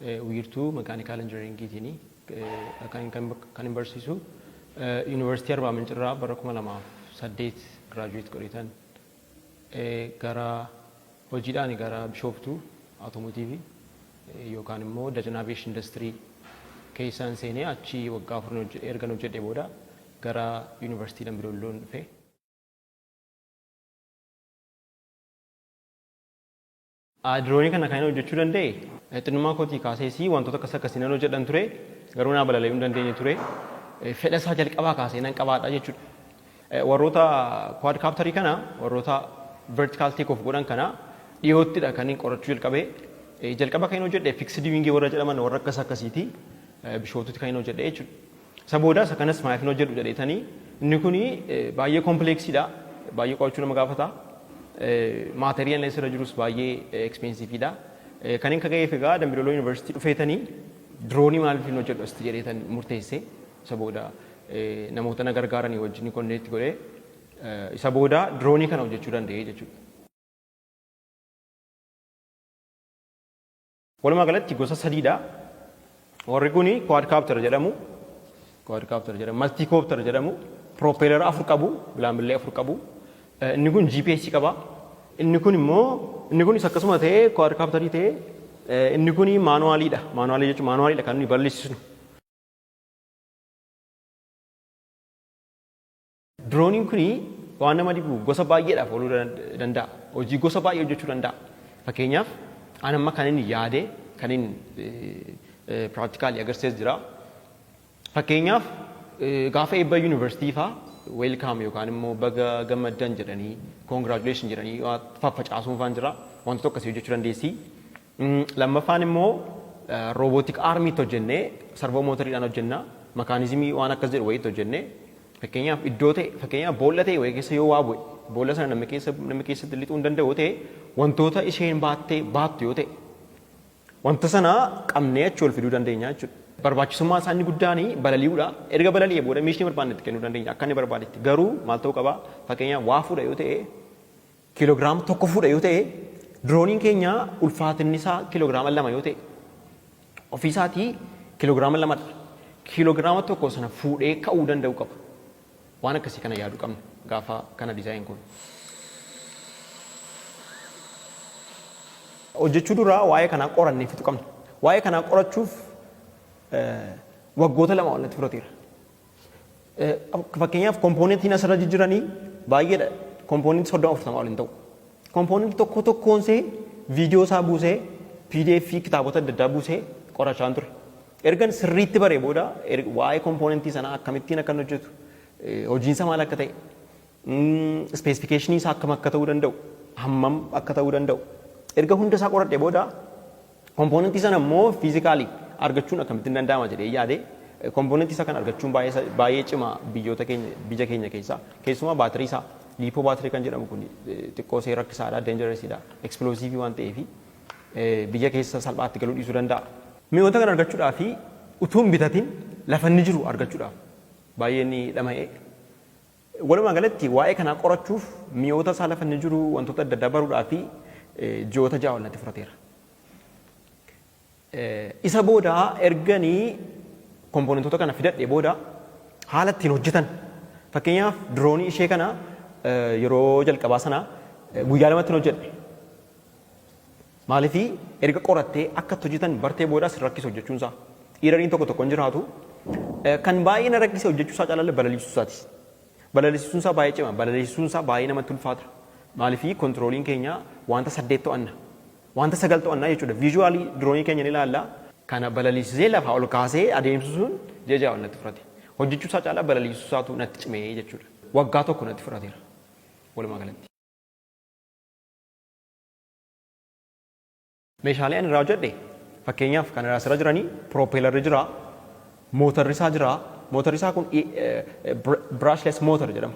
Wiirtuu Makaanikaal Injinariingiitiin kanin barsiisu. Yuunivarsiitii Arbaa Mincirraa bara 2008 giraajuweet godheetan gara hojiidhaan gara Bishooftuu Awutoomotiivii yookaan immoo Dajan Aviyeeshin Indastirii keessaan seenee achi waggaa afur ergan hojjedhee booda gara Yuunivarsiitii Dambidoolloon dhufe. A. Diroonii kana kanin hojjechuu danda'e xinnummaa kootii kaasees wantoota akkas akkasii nan hojjedhan ture garuu naa balali'uu hin dandeenye ture. Fedha isaa jalqabaa kaasee nan qabaadha jechuudha. Warroota quadcopter kana warroota vertical take off godhan kana dhiyoottidha kanin qorachuu jalqabe. Jalqaba kanin hojjedhe fixed wing warra jedhaman warra akkas akkasiiti. Bishooftuutti kanin hojjedhe jechuudha. Isa booda isa kanas maaf hin hojjedhu jedheetanii inni kun baay'ee kompleeksiidha. Baay'ee qo'achuu nama gaafata. Maaterii inni asirra jirus baay'ee ekspensiifiidha. Kan inni kaga'eef egaa Dambidooloo Yuunivarsiitii dhufeetanii diroonii maaliif hin hojjedhu asitti jedheetan murteesse. Isa booda namoota na gargaaranii wajjin konneetti godhee isa booda diroonii kana hojjechuu danda'ee jechuudha. Walumaa galatti gosa sadiidha. Warri kun quadcopter jedhamu, quadcopter jedhamu, multicopter jedhamu, propeller afur qabu, bilaambillee afur qabu. Inni kun GPS qaba. Inni kun immoo inni kunis akkasuma ta'ee quadcopterii ta'ee inni kun maanuwaaliidha. Maanuwaalii jechuun maanuwaaliidha kan nuyi balleessisnu. Dirooniin kun waan nama dhibu gosa baay'eedhaaf ooluu danda'a. Hojii gosa baay'ee hojjechuu danda'a. Fakkeenyaaf an amma kan inni yaade kan inni piraaktikaalii agarsiises jira. Fakkeenyaaf gaafa eebba yuunivarsiitii faa weelkaam yookaan immoo baga gammaddan jedhanii koongiraajuleeshin jedhanii faffacaasuun faan jira. Wantoota akkasii hojjechuu dandeessi. Lammaffaan immoo roobootik aarmiitti hojjennee sarvoo mootoriidhaan hojjenna. Makaanizimii waan akkas jedhu wayiitti hojjennee fakkeenyaaf iddoo ta'e fakkeenyaaf boolla ta'e wayii keessa yoo waa bu'e boolla sana namni keessa namni keessatti lixuu hin danda'u ta'e wantoota isheen baattee baattu yoo ta'e wanta sana qabnee achi ol fiduu dandeenya jechuudha. Barbaachisummaa isaa inni guddaan balali'uudha. Erga balali'ee booda miishni barbaanne itti kennuu dandeenya akka inni barbaadetti. Garuu maal ta'uu qaba? Fakkeenyaaf waa fuudha yoo ta'e kilogram tokko fuudha yoo ta'e dirooniin keenya ulfaatinni isaa kilograama lama yoo ta'e ofii isaatii kilograama lamadha. Kilograama tokko sana fuudhee ka'uu danda'u qaba. Waan akkasii kana yaaduu qabna gaafa kana dizaayin kun. Hojjechuu duraa waa'ee kanaa qorannee fixu qabna. Waa'ee kanaa qorachuuf waggoota lama ol natti fudhateera. Fakkeenyaaf kompoonentiin asirra jijjiranii baay'eedha. Kompoonentii soddoma afurtamaa ol hin ta'u. Kompoonentii tokko tokkoon see viidiyoo isaa buusee pdf kitaabota adda addaa buusee qorachaan ture. Ergan sirriitti baree booda waa'ee kompoonentii sanaa akkamittiin akka hojjetu hojiinsa maal akka ta'e ispeesifikeeshinii isaa akkam akka ta'uu danda'u hammam akka ta'uu danda'u erga hunda isaa qoradhee booda Kompoonentii sana immoo fiizikaalii argachuun akkamittin danda'ama jedhee yaade kompoonentii isaa kana argachuun baay'ee cima biyyoota keenya biyya keenya keessaa keessumaa baatirii isaa liipoo baatirii kan jedhamu kun xiqqoo see rakkisaadha deenjareesiidha eksplooziivii waan ta'eef biyya keessa salphaatti galuu dhiisuu danda'a. Mi'oota kana argachuudhaa fi utuu hin bitatin lafa inni jiru argachuudhaaf baay'een dhama'e. Walumaa galatti waa'ee kanaa qorachuuf mi'oota isaa lafa inni jiru wantoota adda addaa baruudhaaf ji'oota ja'a ol natti fudhateera. Isa booda erganii kompoonentoota kana fidadhee booda haala ittiin hojjetan fakkeenyaaf diroonii ishee kana yeroo jalqabaa sana guyyaa lamatti hin hojjedhe. Maaliif erga qorattee akka itti hojjetan bartee boodaa si rakkisa hojjechuun isaa. Iirariin tokko tokko hin jiraatu. Kan baay'ee na rakkise hojjechuu isaa caalaa balaliisuu isaati. Balaliisuun isaa baay'ee cima. Balaliisuun isaa baay'ee namatti ulfaata. Maaliif kontirooliin keenya wanta saddeet to'anna. Wanta sagal to'anna jechuudha. Viizuwaalii diroonii keenya ni ilaalla. Kana balaliisisee lafaa ol kaasee adeemsisuun ji'a ja'a ol natti fudhate. Hojjechuu isaa caalaa balaliisuu isaatu natti cime jechuudha. Waggaa tokko natti fudhateera walumaa galatti. Meeshaalee ani irraa hojjedhe fakkeenyaaf kan irraa asirra jiranii piroopeelarri jira, mootarri isaa jira. Mootarri isaa kun brushless motor jedhama.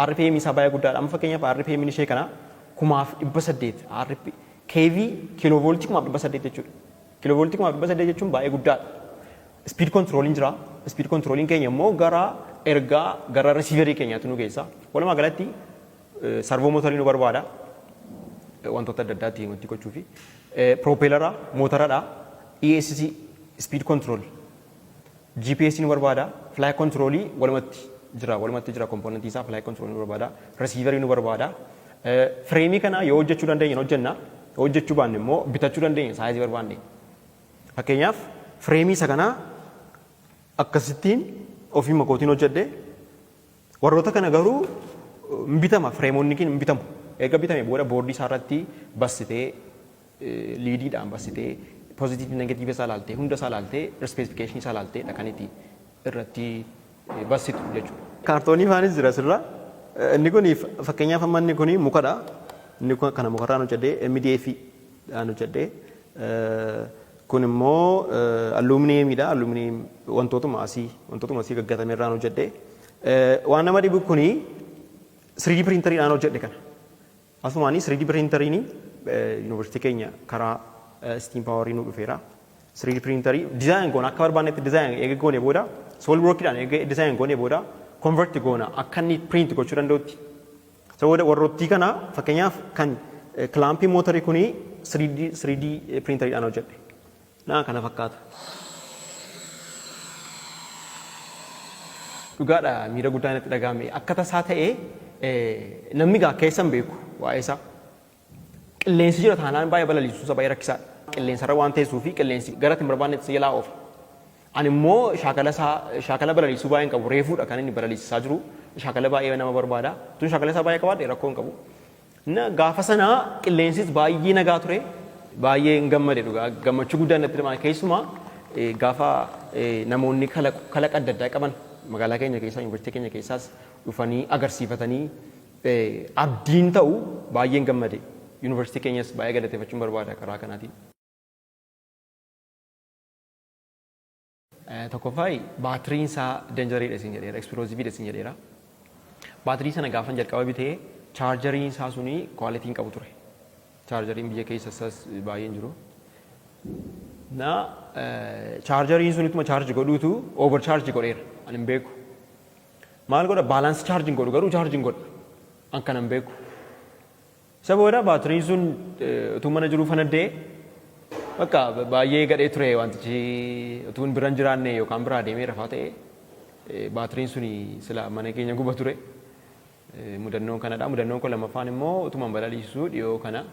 RPM isaa baay'ee guddaadha. Amma fakkeenyaaf RPM ishee kana kumaaf dhibba saddeet RP KV kiiloovooltii kumaaf dhibba saddeet jechuudha. Kiiloovooltii kumaaf dhibba saddeet jechuun baay'ee guddaadha. Speed controlin jira. Speed controlin keenya immoo gara ergaa gara receiverii keenyaatti nu geessa. Walumaa galatti Sarvoo mootarii nu barbaada. Wantoota adda addaatti himattii gochuufi. Piroopeelara, mootaradha. ESC, speed control. GPS nu barbaada. Fly control walumatti jira. Walumatti jira kompoonantii isaa fly control nu barbaada. Receiver nu barbaada. Fireemii kana yoo hojjechuu dandeenye hojjenna. Yoo hojjechuu baanne immoo bitachuu dandeenya saayizii barbaanne. Fakkeenyaaf fireemii isa kanaa akkasittiin ofiima kootiin hojjedhe Warroota kana garuu hin bitama fireemoonnikiin hin bitamu. Erga bitame booda boordii isaa irratti bassitee liidiidhaan bassitee pozitiifi negatiiva isaa ilaaltee hunda isaa ilaaltee ispeesifikashinii isaa ilaaltee dha kan itti irratti bassitu jechuudha. Kaartoonii faanis jira asirra. Inni kun fakkeenyaaf amma inni kun mukadha. Inni kana mukarraan hojjedhee MDF dhaan hojjedhee Kun immoo alluuminiyeemii dha. Alluuminiyeem wantootuma asii wantootuma asii gaggatame irraan hojjedhe. Waan nama dhibu kun 3D piriintariidhaan hojjedhe kana. Asumaanii 3D piriintariin yuunivarsiitii keenya karaa istiim paawarii nu dhufeera. 3D piriintarii dizaayin goona akka barbaannetti dizaayin eega goone booda soolid workiidhaan eega dizaayin goone booda konverti goona akka inni piriinti gochuu danda'utti Isa booda warrottii kana fakkeenyaaf kan kilaampii mootarii kuni 3D 3D piriintariidhaan hojjedhe. Naa kana fakkaata. Dhugaadha miira guddaa natti dhaga'ame. Akka tasaa ta'ee namni gaa keessa hin beeku waa'ee isaa. Qilleensi jira taanaan baay'ee balaliisuun isaa baay'ee rakkisaadha. Qilleensarra waan teessuu fi qilleensi gara itti hin barbaannetti si jalaa oofa. Ani immoo shaakala isaa shaakala balaliisuu baay'een qabu reefuudha kan inni balaliisisaa jiru shaakala baay'ee nama barbaada. Tun shaakala isaa baay'ee qabaadhe rakkoo hin qabu. Na gaafa sana qilleensis baay'ee nagaa ture baay'ee hin gammade dhugaa gammachuu guddaan natti dhamaa'e keessumaa eh, gaafa eh, namoonni kalaq- kalaqa adda addaa qaban magaalaa keenya keessaa yuunivarsiitii keenya keessaas dhufanii agarsiifatanii abdiin ta'u baay'een gammade. University keenyas baay'ee galateefachuun barbaada karaa kanaatiin. Tokkoffaa baatiriin isaa danjariidha isin jedheera, explosive dha isin jedheera. Baatirii sana gaafan jalqaba bite chaarjariin isaa suni quality hin qabu ture. Chaarjariin biyya keessa isaas baay'een jiru. Na chaarjariin sun ittuma chaarji godhuutu over charge godheera. Ani hin beeku. Maal godha balance charge hin godhu garuu charge hin godha an kana hin beeku. Isa booda baatiriin sun utuu mana jiruu fanaddee bakka baay'ee gadhee ture wantichi utuu hin biran jiraanne yookaan biraa deemee rafaa ta'e baatiriin sun sila mana keenya guba ture. Mudannoon kanadha. Mudannoon kun lammaffaan immoo utuman balaliisisuu dhiyoo kana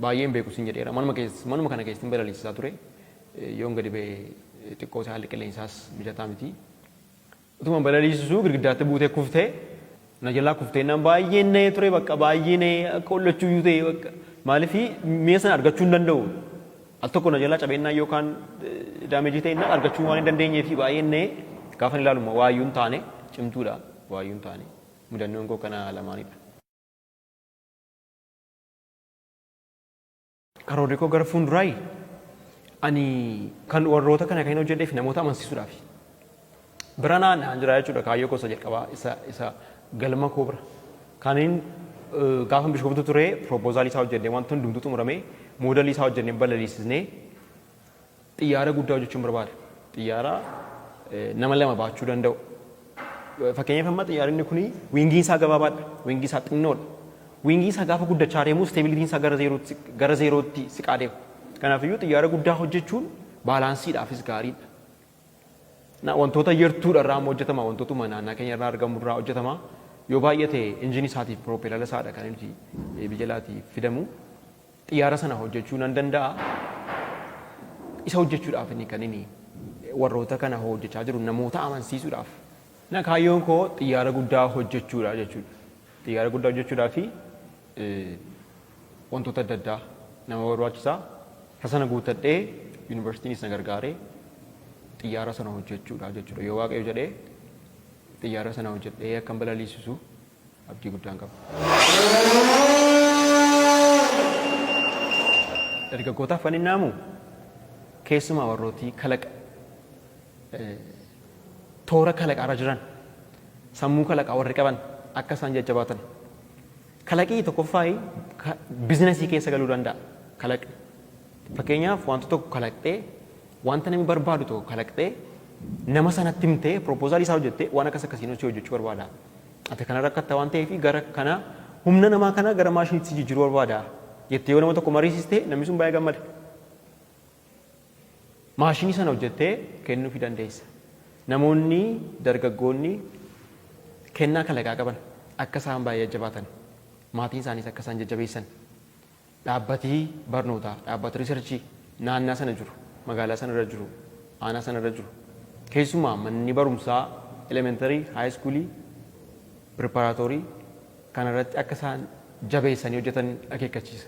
baay'ee hin beeku sin jedheera. Manuma keessa manuma kana keessatti balaliisisaa ture. Yoon gadi ba'e xiqqoo isaa haalli qilleensaas mijataa miti. Utuman balaliisisuu girgiddaatti buutee kufte. Na jalaa kufte jennaan baay'een na'ee ture bakka baay'ee na'ee akka hollachuu iyyuu ta'e bakka maaliif mi'a sana argachuu hin danda'u. Al tokko na jalaa cabeennaan yookaan daameejii ta'ennaan argachuu waan hin dandeenyeef baay'een na'ee gaafan ilaalu immoo waa iyyuu hin taane cimtuudha waa iyyuu hin taane mudannoon koo kana lamaanidha. Karoorri koo gara fuunduraayi ani kan warroota kana kan hojjedheef namoota amansiisuudhaafi. Bira naan naan jira jechuudha kaayyoo koo isa jalqabaa isa isa galma koo bira. Kanin gaafa bishoftu ture piroopoozaalii isaa hojjedhee wanti hundumtuu xumuramee moodelii isaa hojjedhee balaliisisnee Xiyyaara guddaa hojjechuun barbaada. Xiyyaara nama lama baachuu danda'u. Fakkeenyaaf amma xiyyaaronni kun wiingiin isaa gabaabaadha. Wiingii isaa xinnoodha. Wiingii isaa gaafa guddachaa deemu isteebilitiin isaa gara zeerootti gara zeerootti siqaa deema. Kanaafiyyuu xiyyaara guddaa hojjechuun baalaansiidhaafis gaariidha. Na wantoota yertuudha irraa amma hojjetama wantootuma naannaa keenya irraa argamu irraa hojjetama. Yoo baay'ate injinii isaatiif piroopeelala isaadha kan nuti biyya alaatii fidamu. Xiyyaara sana hojjechuu nan danda'a. Isa hojjechuudhaaf inni kan inni warroota kana hojjechaa jiru namoota amansiisuudhaaf. Na kaayyoon koo xiyyaara guddaa hojjechuudha jechuudha. Xiyyaara guddaa hojjechuudhaa fi wantoota adda addaa nama barbaachisa. Isa sana guuttadhee yuunivarsiitiinis na gargaaree xiyyaara sana hojjechuudha jechuudha. Yoo waaqayyo jedhee xiyyaara sana hojjedhee akkan balaliisisu abdii guddaan qaba. Dargaggootaaf kan inni haamu keessumaa warrooti kalaqa toora kalaqaarra jiran sammuu kalaqaa warri qaban akka isaan jajjabaatan kalaqii tokkoffaa bizinasii keessa galuu danda'a kalaqni. Fakkeenyaaf wantoota tokko kalaqxee Wanta namni barbaadu tokko kalaqxee nama sanatti himtee pirooppoozaalii isaa hojjettee waan akkas akkasiin hojii hojjechuu barbaada. Ati kana rakkatta waan ta'eef gara kana humna namaa kana gara maashiniitti si jijjiiruu barbaada jettee yoo nama tokko mariisiste namni sun baay'ee gammada. Maashinii sana hojjettee kennuufii dandeessa. Namoonni dargaggoonni kennaa kalaqaa qaban akka isaan baay'ee jajjabaatan maatiin isaaniis akka isaan jajjabeessan Dhaabbati barnootaa, dhaabbati risarchii naannaa sana jiru, magaalaa sana irra jiru, aanaa sana irra jiru, keessumaa manni barumsaa elementarii, haayiskuulii, piriparaatoorii kana irratti akka isaan jabeessanii hojjetan akeekkachiisa.